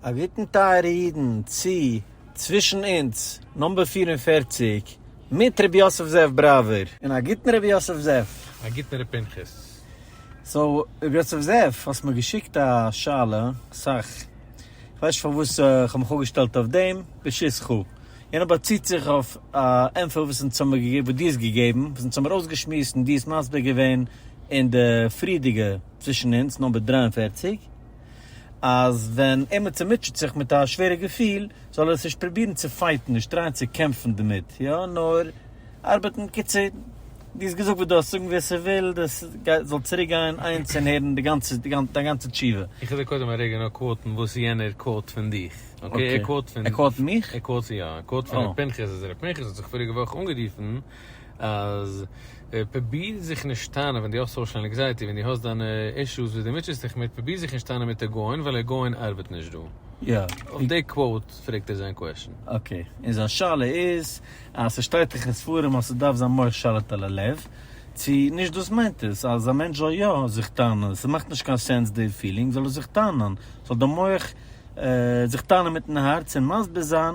א גוטן טייערע אידן צו צווישן אונז נאמבער פֿיר און פֿערציק מיט רבי יוסף זאב בראווער. און א גוטן רבי יוסף זאב. א גוטן ר' פנחס. סאו ר' יוסף זאב האסט מיר געשיקט א שאלה סאך כ'ווייס נישט פארוואס כ'האב מיך אפגעשטעלט אויף דעם בשיס כו. יענער באציט זיך אויף א ענפער וואס אונז האמיר געגעבן וואס דו האסט געגעבן וואס אונז האמיר אויסגעשמועסט און דו האסט מסביר געווען אין די פריערדיגע צווישן אונז נאמבער דרײַ און פֿערציק. אז ווען עימיצער מוטשעט זיך מיט א שווערע געפיל זאל ער עס נישט פרובירן צו פייטן, נישט טרייען צו קעמפן דערמיט, יא נאר ארבעטן, בקיצור דו האסט געזאגט וואס דו האסט צו זאגן, ווער ס'וויל דאס גייט זאל צוריק גיין איינס און הערן די גאנצע דיין גאנצע תשובה. איך וועל דיר קודם א רגע נאר קוואוטן וואס יענער קוואוט פון דיך, אקעי? ער קוואוט פון, ער קוואוט מיך? ער קוואוט יא, ער קוואוט פון ר' פנחס אז ר' פנחס האט זיך פאריגע וואך אנגערופן אז פרוביר זיך נישט טענה'ן ווען דו האסט סאושעל ענקזייעטי, ווען דו האסט דיינע אישוס וואס דו מוטשעסט דיך מיט, פרוביר זיך נישט טענה'ן מיט א גאון ווייל א גאון ארבעט נישט דא. יא. אויף די קוואוט פרעגט ער זיין קוועשן. אקעי. און זיין שאלה איז אז ס'שטייט דאך אין ספרים אז ס'דארף זיין מוח שליט על הלב, צו נישט דאס מיינט עס אז א מענטש זאל יא זיך טענה'ן, ס'מאכט נישט קיין סענס די פילינג, זאל ער זיך טענה'ן, זאל די מוח זיך טענה'ן מיטן הארץ און מסביר זיין.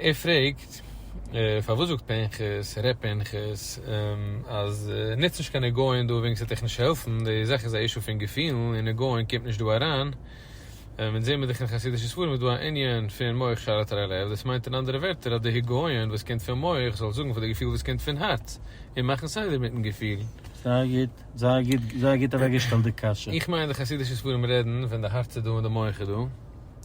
ער פרעגט, פארוואס זאגט פנחס, ר' פנחס, אז נוץ נישט קיין נגעון דא וועגן ס'וועט דיך נישט העלפן, די זאך איז א אישו פון געפילן און נגעון קומט נישט דא אריין, אונז זעמיר דאך אין חסידישע ספרים איז דא א ענין פון מח שרת אל הלב, דאס מיינט אין אנדערע ווערטער אז די היגיון וואס קומט פון מח זאל זאגן פאר די געפיל וואס קומט פון הארץ און מאכן סדר מיטן געפיל. זייער גוט, זייער גוט, זייער גוט אוועקגעשטעלט די קשיא. איך מיין די חסידישע ספרים רעדן ווען די הארץ איז דא און די מח איז דא.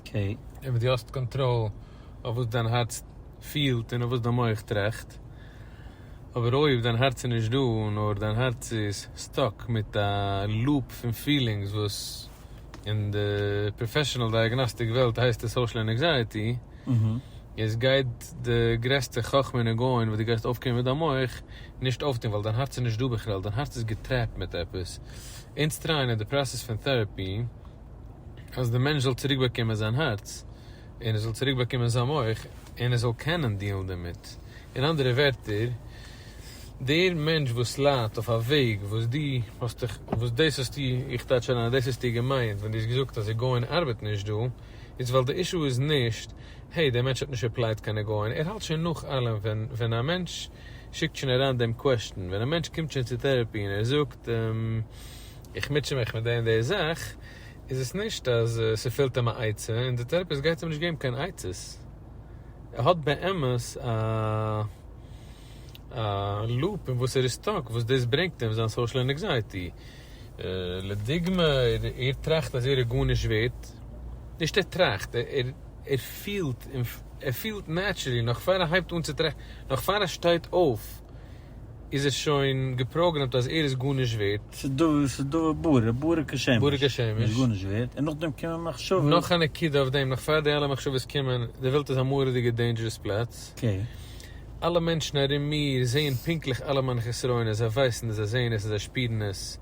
קעי. און וואס דו האסט קאנטראל אויף וואס דיין הארץ פילט און אויף וואס דיין מח טראכט, אבער אויב דיין הארץ איז נישט דא נאר דיין הארץ איז סטאק מיט א לופ פון פילינגס וואס אין די פראפעשענעל דייעגנאסטיק וועלט הייסט עס סאושעל ענעקזייעטי, איז גייט די גרעסטע חכמה ניגון וואס דו גייסט אויפקומען מיט דיין מח נישט אויפטון ווייל דיין הארץ איז נישט דא בכלל, דיין הארץ איז געטרעפט מיט עפעס. אונז טרייען אין די פראסעס פון טעראפי. אז דער מענטש זאל צוריק באקומען זיין הארץ, און ער זאל צוריק באקומען זיין מח, און ער זאל קענען דילן דערמיט. אין אנדערע ווערטער, דער מענטש וואס ליידט אויף א וועג וואס דו האסט דיך, וואס דאס האסטו, איך טייטש אריין אז דאס האסטו געמיינט ווען דו האסט געזאגט אז עגאון ארבעט נישט דא, איז ווייל די אישו איז נישט, העי, דער מענטש האט נישט עפלייט קיין עגאון, ער האלט שוין נאך אלעם ווען, ווען א מענטש שיקט שוין אריין דעם קוועסטשן, ווען א מענטש קומט שוין צו טערעפי און ער זאגט, איך מוטשע מיך מיט די און די זאך, איז עס נישט אז ס'פעלט אים א עצה, און די טעראפיסט גייט אים נישט געבן קיין עצות. ער האט באמת א א לופ אין וואס ער איז סטאק, וואס דאס ברענגט אים זיין סאושעל ענקזייעטי. לדוגמא, ער טראכט אז ער איז גארנישט ווערט, נישט ער טראכט, ער פילט, ער פילט נעטשערלי נאך פאר ער הייבט אן צו טראכטן, נאך פאר ער שטייט אויף, איז ער שוין געפראגרעמט אז ער איז גארנישט ווערט. ס'איז דא בורא, בורא כשמש, ער איז גארנישט ווערט, און נאכדעם קומען מחשבות. נאך א נקודה אויף דעם, נאך פאר די אלע מחשבות קומען, די וועלט איז א מורא'דיגע דעינדזשערעס פלאץ, אלע מענטשן ארום מיר זעען פונקטליך אלע מיינע חסרונות, זיי ווייסן עס, זיי זעען עס און זיי שפירן עס.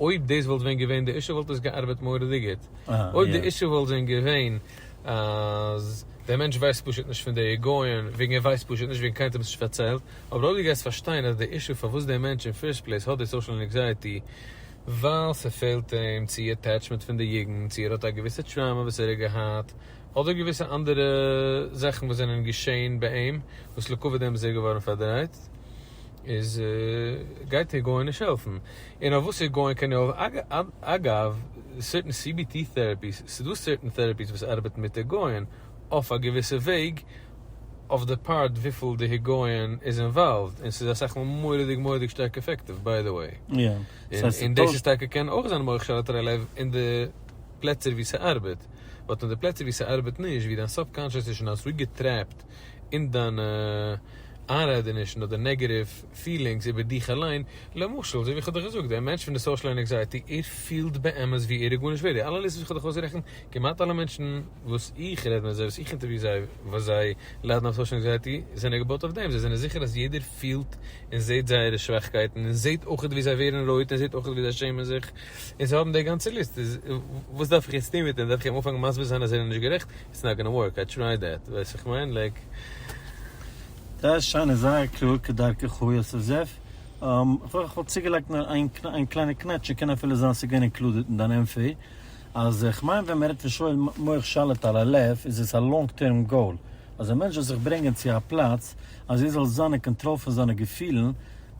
אויב דאס וואלט ווען געווען די אישו וואלט עס געארבעט מורא'דיג גוט. אויב די אישו וואלט ווען געווען אז דער מענטש ווייסט פשוט נישט פון די היגיון וועגן ער ווייסט פשוט נישט וועגן קיינער האט אים עס נישט פארציילט, אבער אויב דו גייסט פארשטיין אז די אישו פארוואס דער מענטש אין פירסט פלעיס האט די סאושעל ענקזייעטי ווייל ס'פעלט אים צו עטעטשמענט פון די יוגנט צו ער האט א געוויסע טראומא וואס ער האט געהאט אדער געוויסע אנדערע זאכן וואס זענען געשעהן ביי אים וואס לעקאוויט דעם איז ער געווארן פארדרייט. איז גייט איר גאון נישט העלפן, און אויף וואס איר גאון קען איר העלפן, אגב סערטען סי בי טי טערעפיס, ס'דא סערטען טערעפיס וואס ארבעטן מיט דער גאון אויף א געוויסע וועג, אויף די פארט וויפיל דער גאון איז אינוואלווד, און ס'איז אסאך מאל מורא'דיג מורא'דיג שטארק אפעקטיוו ביי די וועי, און דאס איז טאקע קען אויך זיין מח שאלת רע לב אין די פלעצער ווי ס'ארבעט, באט אין די פלעצער ווי ס'ארבעט נישט, ווי דיין סוב קאנשעס איז שוין אזוי געטרעפט און דיינע איינרעדענישן אדער נעגעטיוו פילינגס איבער דיך אליין, למשל אזוי ווי איך האב דיך געזאגט, דער מענטש פון די סאושעל ענעקזייעטי, ער פילט באמת ווי ער איז גארנישט ווערד, די אלע ליסטעס וואס איך האב דיך אויסגערעכנט, כמעט אלע מענטשן וואס איך רעד מיט זיי, וואס איך אינטערוויו זיי, וואס זיי ליידן אויף סאושעל ענקזייעטי, זענען געבויט אויף דעם, זיי זענען זיכער אז יעדער פילט און זעט זייערע שוואכקייטן, און זעט אויכעט ווי זיי ווערן רויט, און זעט אויכעט ווי זיי שעמען זיך, און זיי האבן די גאנצע ליסט, איז וואס דארף איך יעצט טון מיט אים, דארף איך אים אנפאנגן מסביר זיין אז ער איז נישט גערעכט? איטס נאט גאנא ווארק, איי טרייד דעט, ווייסט וואס כ'מיין? לייק. זייער שיין און זייער קלאר כדרכך יוסף זאב. כ'וואלט צוגעלייגט נאר איין קליינע קנעטש, ס'קען אפילו זיין ס'געווען אינקלודעד אין דיין ענפער, אז כ'מיין ווען מ'רעדט פון שואל מוח שליט על הלב איז עס א לאנג טערם גאול, אז א מענטש זאל זיך ברענגען צו א פלאץ אז ער זאל זיין אין קאנטראל פון זיינע געפילן,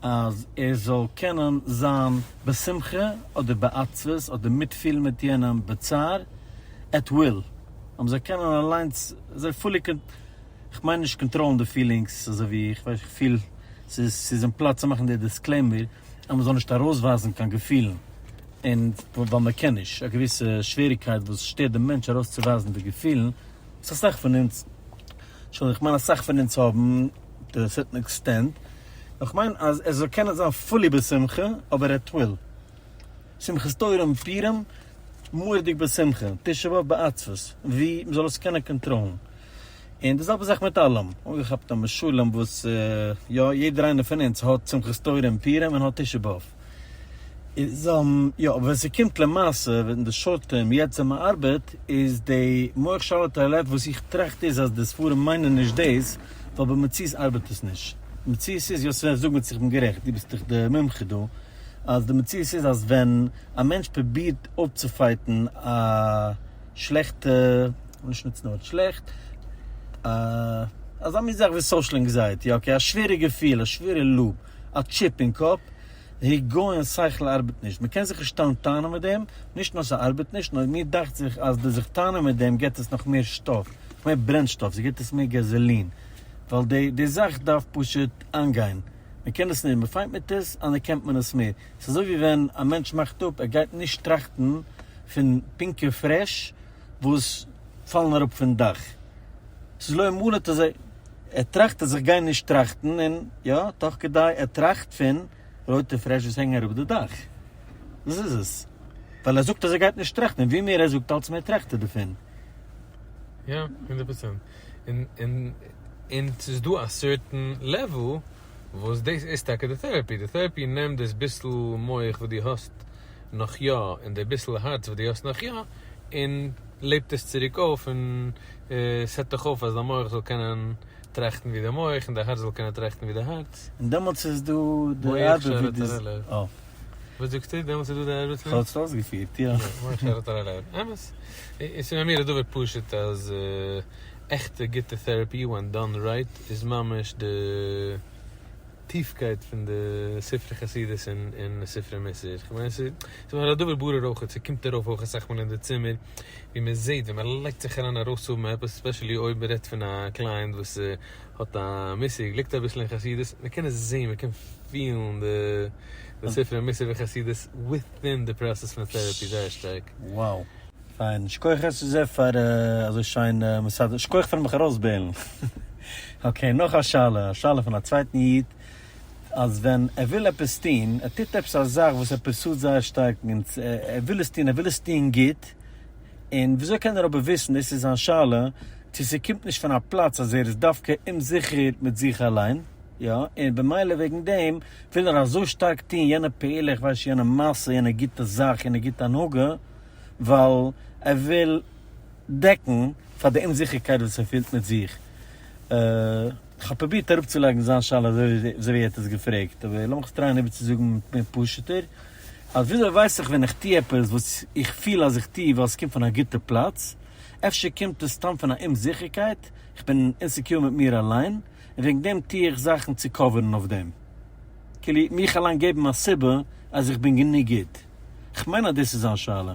אז ער זאל קענען זיין בשמחה אדער בעצבות אדער מיטפילן מיט יענעם בצער, עט וויל, אבער זיי קענען אליינס זיי פולי קאנ. כ'מיין נישט קאנטראלן די פילינגס אזוי ווי איך ווייס איך פיל ס'איז ס'איז אין פלאץ צו מאכן די דיסקלעימער אז מ'זאל נישט ארויסווייזן קיין געפילן און ווייל מ'קען נישט א געוויסע שוועריגקייט וואס שטערט די מענטש ארויסצוווייזן די געפילן וואס אסאך פון אונז שוין כ'מיין אסאך פון אונז האבן טו א סערטן עקסטענט אבער כ'מיין אז ער זאל קענען זיין פולי בשמחה אבער עט וויל. שמחת תורה און פורים מור'דיג בשמחה, תשעה באב בעצבות, ווי מ'זאל עס קענען קאנטראלן, און די זעלבע זאך מיט אלעם, אנגעכאפט א משלים וואס יא יעדער איינער פון אונז האט שמחת תורה און פורים און האט תשעה באב, איז יא אבער ווען ס'קומט למעשה ווען די שארט טערם יעצט ווען מ'ארבעט איז די מח שלה תעלה וואס איך טראכט איז אז די ספרים מיינען נישט דאס ווייל במציאות ארבעט עס נישט, מציאות איז יא ס'ווען זאג מיר צו איך בין גערעכט דו ביסט דאך די מומחה דא. אז די מציאות איז אז ווען א מענטש פרובירט אויפצופייטן א שלעכטע, כ'וויל נישט נוצן די ווארט שלעכט, א אזא מין זאך ווי סאושעל ענקזייעטי, אקעי, א שווערע געפיל, א שווערע לאג, א טשיפ אין קאפ, היגיון שכל ארבעט נישט, מען קען זיך נישט טאן טענה'ן מיט דעם, נישט נאר ס'ארבעט נישט, נאר מיר דאכט זיך אז די זיך טענה'ן מיט דעם געט עס נאך מער שטאף, נאך מער ברענשטאף, ס'געט עס מער געזאלין, ווייל די זאך דארף פשוט איינגיין. מען קען עס מער, מען פיינט מיט עס, אנערקענט מען עס מער. עס איז אזוי ווי ווען א מענטש מאכט אפ, ער גייט נישט טראכטן פון פינקע פרעש וואס פאלן אראפ פון דאך. עס איז לא מלא את זה. ער טראכט אז איך גיי נישט טראכטן, און יא, תוך כדי ער טראכט פון רויטע פרעש וואס הענגען אראפ די דאך. דאס איז עס. ווייל ער זאגט אז ער גייט נישט טראכטן, און ווי מער ער זאגט אלץ מער טראכט ער דערפון. יא, הונדערט פראצענט. און ס'איז דא א סערטען לעוועל וואס דאס איז טאקע די טערעפי, די טערעפי נעמט דאס ביסל מח וואס דו האסט נאך יא און די ביסל הארץ וואס דו האסט נאך יא און לעבט עס צוריק אויף און סעט דיך אויף אז דיין מח זאל קענען טראכטן ווי די מח און דיין הארץ זאל קענען טראכטן ווי די הארץ. און דעמאלטס איז דא די ארבעט ווי די. וואס זאגסטו? דעמאלטס איז דא די עירוב צווישן? כ'האב עס אויסגעפירט, יא. מיין שטעלט האט אריין עירוב. אמת. און ס'איז ביי מיר איז דבר פשוט אז עכטע גוטע טעראפי ווען דאן רייט איז ממש די טיפקייט פון די ספרי חסידות און ספרי מוסר. כ'מיין ס'איז מיך א דבר ברור אויך, ס'קומט ארויף אויך אסאך מאל אין די צימער ווי מ'זעט ווען מ'לייגט זיך אריין ארויסהאבן עפעס, ספעשעלי אויב מ'רעדט פון א קלייענט וואס האט א מושג, ליגט אביסל אין חסידות, מען קען עס זעהן, מען קען פילן די ספרי מוסר וחסידות וויטין די פראסעס פון טערעפי, זייער שטארק. וואו! פיין, שכוח ר ס פאר אזוי שיין מסדר, שכוח פארן מיך ארויסבעילן. אקעי, נאך א שאלה, א שאלה פון א צווייטן איד, אז ווען ער וויל עפעס טוהן, ער טוט עפעס א זאך וואס ער פרסוט זייער שטארק, ער וויל עס טוהן, ער וויל עס טוהן גוט, און וויאזוי קען ער אבער וויסן, דאס איז זיין שאלה, צו ס'קומט נישט פון א פלאץ אז ער איז דווקא אומזיכער מיט זיך אליין, יא, און במילא וועגן דעם וויל ער אזוי שטארק טון יענע פעולה, איך ווייס נישט, יענע מעשה, יענע גוטע זאך, יענע גוטע הנהגה, ווייל ער וויל דעקן פאר די אומזיכערקייט וואס ער פילט מיט זיך. כ'האב פרובירט אראפצולייגן זיין שאלה אזוי ווי ער האט עס געפרעגט, אבער לאמיך עס טרייען איבערצוזאגן מער פשוט'ער. אביסעל ווייס איך ווען איך טו עפעס וואס איך פיל אז איך טו ווייל עס קומט פון א גוטע פלאץ, אפשר קומט עס סתם פון א אומזיכערקייט, איך בין אינסעקיור מיט מיר אליין, און וועגן דעם טו איך זאכן צו קאווערן אויף דעם. כאילו מיך אליין געבן א סיבה אז איך בין גענוג גוט. כ'מיין אז דאס איז זיין שאלה.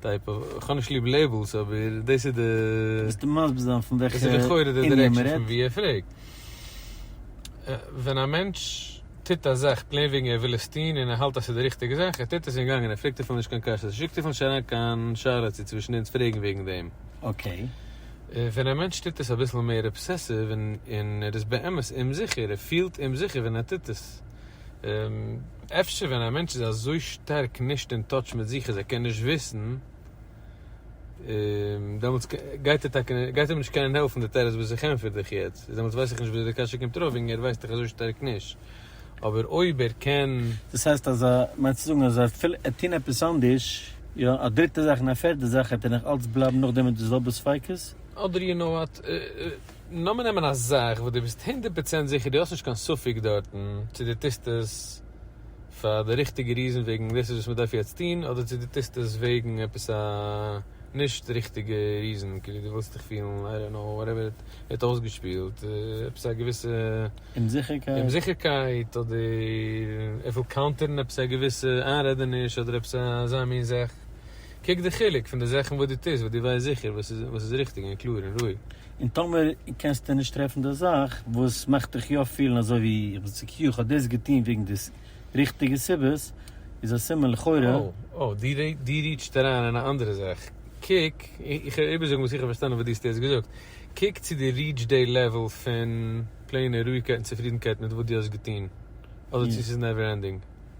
טייפ אוו, איך האב נישט ליב לעיבלס אבער דאס איז די. ביסטו מסביר זיין פון וועלכע ענין מ'רעדט? דאס איז לכאורה די דירעקשאן פון ווי ער פרעגט. ווען א מענטש טוט א זאך פלעין וועגן ער וויל עס טון און ער האלט אז ס'איז די ריכטיגע זאך, ער טוט עס און גאנגען, ער פרעגט אפילו נישט קיין קשיות, ער שיקט אפילו נישט אריין קיין שאלה צו צווישן אונז פרעגן וועגן דעם. אקעי. ווען א מענטש טוט עס אביסל מער אבסעסיוו און ער איז באמת אומזיכער, ער פילט אומזיכער ווען ער טוט עס. אפשר ווען א מענטש איז אזוי שטארק נישט אין טאטש מיט זיך אז ער קען נישט וויסן, דעמאלטס גייט ער טאקע, גייט אים נישט קענען העלפן די תירוץ וואס איך ענטפער דיך יעצט, איז דעמאלטס ווייס איך נישט וויאזוי די קשיא קומט ארויף וועגן ער ווייסט דאך אזוי שטארק נישט, אבער אויב ער קען. דאס הייסט אז ער מיינט צו זאגן אז אפילו ער טון עפעס אנדערש, יא, א דריטע זאך און א פערטע זאך, וועט ער נאך אלץ בלייבן נאכדעם מיט די זעלבע ספיקות? אדער יו נאו וואט. לאמיר נעמען א זאך וואס דו ביסט הונדערט פראצענט זיכער, דו האסט נישט קיין ספק דארטן צו דו טוסט עס פאר די ריכטיגע ריזען וועגן דאס איז וואס מ'דארף יעצט טון, אדער צו דו טוסט עס וועגן עפעס א נישט ריכטיגע ריזען, כאילו דו ווילסט דיך פילן, איי דאנט קנאו, וואטעווער עס האט אויסגעשפילט, עפעס א געוויסע אומזיכערקייט, אדער ער וויל קאונטערן עפעס א געוויסע איינרעדעניש, אדער עפעס אזא מין זאך, קוק די חילוק פון די זאכן וואס דו טוסט וואס דו ווייסט זיכער וואס איז ריכטיג און קלאר און רואיג. און טאמער קענסטו נישט טרעפן די זאך וואס מאכט דיך יא פילן אזוי ווי איך בין צו קיו, איך האב דאס געטון וועגן די ריכטיגע סיבות, איז א סימן לכאורה. אוי, דו ריטשט אריין אין א אנדערע זאך. קוק, איך וועל איבערזאגן וואס איך האב פארשטאנען וואס דו האסט יעצט געזאגט. קוק צו דו ריטשט די לעוועל פון פלעינע רואיגקייט און צופרידנקייט מיט וואס דו האסט געטון, אדער צו ס'איז נעווער ענדינג.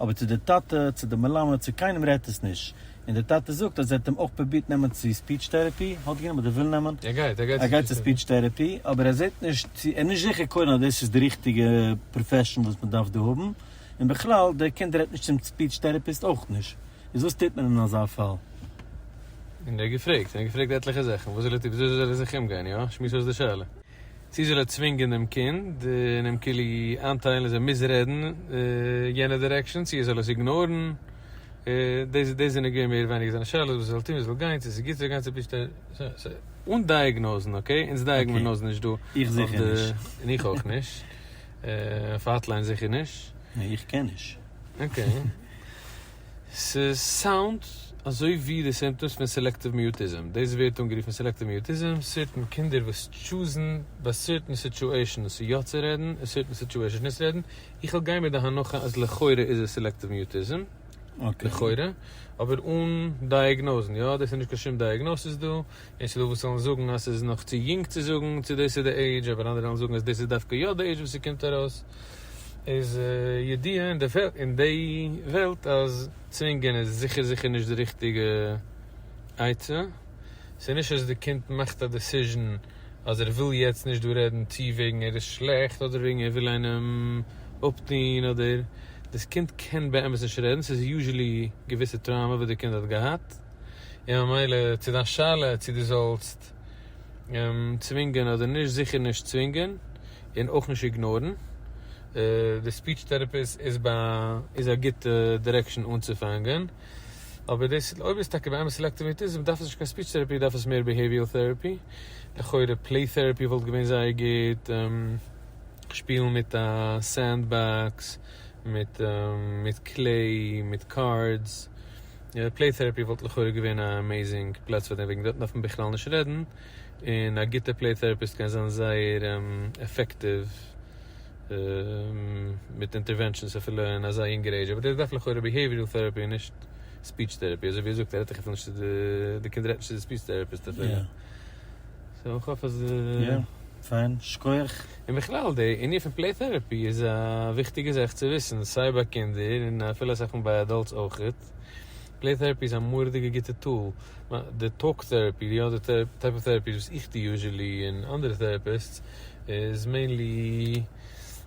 אבער צו די טאטע, צו די מלמד, צו קיינעם רעדט עס נישט, און די טאטע זאגט אז ער האט אים אויך פרובירט נעמען צו ספיטש טערעפי, האט גענומען אדער וויל נעמען, ער גייט צו ספיטש טערעפי, אבער ער זעט נישט צו, ער איז נישט זיכער קודם אז דאס איז די ריכטיגע פראפעשן וואס מען דארף דא האבן, און בכלל דער קינד רעדט נישט צום ספיטש טערעפיסט אויך נישט, איז וואס טוט מען אין אזא פאל? און ער האט געפרעגט, און ער האט געפרעגט עטליכע זאכן, וואס זאל ער טון, וויאזוי זאל ער זיך אומגיין, יא? שמועס אויס די שאלה. צי זאל ער צווינגען דעם קינד און אים כאילו איינטיילן אז ער מוז רעדן יענע דירעקשאן צי ער זאל עס איגנארן, דאס דאס זענען געווען מער ווייניגער זיינע שאלות, וואס ער זאל טון, וואו ער זאל גיין, צי עס איז גוט צו גיין צו פישטיין. אן דייעגנאזן, אקעי? אונז דייעגמנאזן נישט דא איך זיכער נישט. און איך אויך נישט. אויף האטליין זיכער נישט. נע איך קען נישט. אקעי. ס'סאונד אזוי ווי די סימפטאמס פון סעלעקטיוו מיוטיזם, דאס ווערט אנגערופן סעלעקטיוו מיוטיזם, סערטען קינדער וואס טשוזן ביי סערטען סיטשועישענס יא צו רעדן און סערטען סיטשועישענס נישט רעדן, איך וועל גיין מיט די הנחה אז לכאורה איז עס סעלעקטיוו מיוטיזם, לכאורה, אבער אן דייעגנאוזן, יא דאס איז נישט קיין שום דייעגנאסיס דא. און ס'דא וואס וועלן זאגן אז ס'איז נאך צו יונג צו זאגן צו דאס איז די עידזש, אבער אנדערע וועלן זאגן אז דאס איז דווקא יא די עידזש וואס ס'קומט ארויס, איז ידיעה אין די אין די וועלט אז צווינגען איז זיכער זיכער נישט די ריכטיגע עצה, ס'איז נישט אז די קינד מאכט א דעסיזשען אז ער וויל יעצט נישט דא רעדן צי וועגן ער איז שלעכט אדער וועגן ער וויל איינעם אפטוהן אדער, דאס קינד קען באמת נישט רעדן, ס'איז יוזשעלי געוויסע טראומא וואס די קינד האט געהאט. און ממילא צו דיין שאלה צו דו זאלסט צווינגען אדער נישט, זיכער נישט צווינגען און אויך נישט איגנארן. די ספיטש טערעפיסט איז א גוטע דירעקשאן אנצופאנגען, אבער דאס אויב איז טאקע באמת סעלעקטיוו אוטיזם דארף עס נישט קיין ספיטש טערעפי, דארף עס מער ביהעיוויעל טערעפי, לכאורה פלעי טערעפי וואלט געווען זייער גוט, שפילן מיט א סענד באקס, מיט קלעי, מיט קארדס. פלעי טעראפי וואלט לכאורה געווען א עמעיזינג פלאץ פאר דעם, וועגן דארטן דארף מען בכלל נישט רעדן, און א גוטע פלעי טעראפיסט קען זיין זייער עפעקטיוו מיט אינטערווענשאנס אפילו אין אזא יונגערע עידזש, אבער דער דארף לכאורה ביהעיווירעל טעראפי און נישט ספיטש טעראפי, אזוי ווי ער זאגט ער רעדט דאך אפילו נישט צו די, די קינד רעדט נישט צו די ספיטש טעראפיסט אפילו. סאו איך האף אז. יא, פיין, שכוח. און בכלל די ענין פון פלעי טערעפי איז א וויכטיגע זאך צו וויסן, סיי ביי קינדער און אפילו אסאך מאל ביי עדאלטס אויכעט. פלעי טערעפי איז א מורא'דיגע גוטע טול. די טאלק טערעפי, די אדער טייפ אוו טערעפיס וואס איך טו יוזשעלי און אנדערע טערעפיסטס איז מעינלי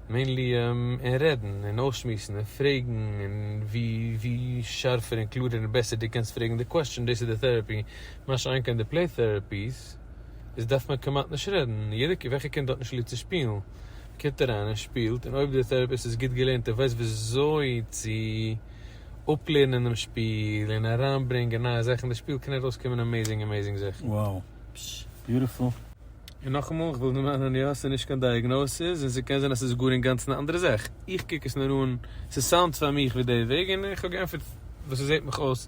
מעינלי און רעדן און אויסשמועסן און פרעגן און ווי ווי שארפער און קלארער און בעסער דו קענסט פרעגן די קוועסטשען דאס איז די טערעפי מה שאין כן די פלעי טעראפיס איז דארף מען כמעט נישט רעדן, יעדע קינד, וועלכע קינד האט נישט ליב צו שפילן קומט אריין און שפילט, און אויב דער טעראפיסט איז גוט געלערנט און ווייסט וויאזוי צו אפלערנען דעם שפיל און אריינברענגען נייע זאכן אין די שפיל קען ארויסקומען אמעזינג אמעזינג זאכן. Wow! Beautiful! און נאכאמאל, כ'וויל דערמאנען, יא, ס'איז נישט קיין דיאגנאסיס, און ס'קען זיין אז ס'איז גאר אינגאנצן א אנדערע זאך, איך קוק עס נאר אן, ס'סאונדט פאר מיך ווי די וועג, און איך האב געענטפערט וואס ס'זעט מיך אויס,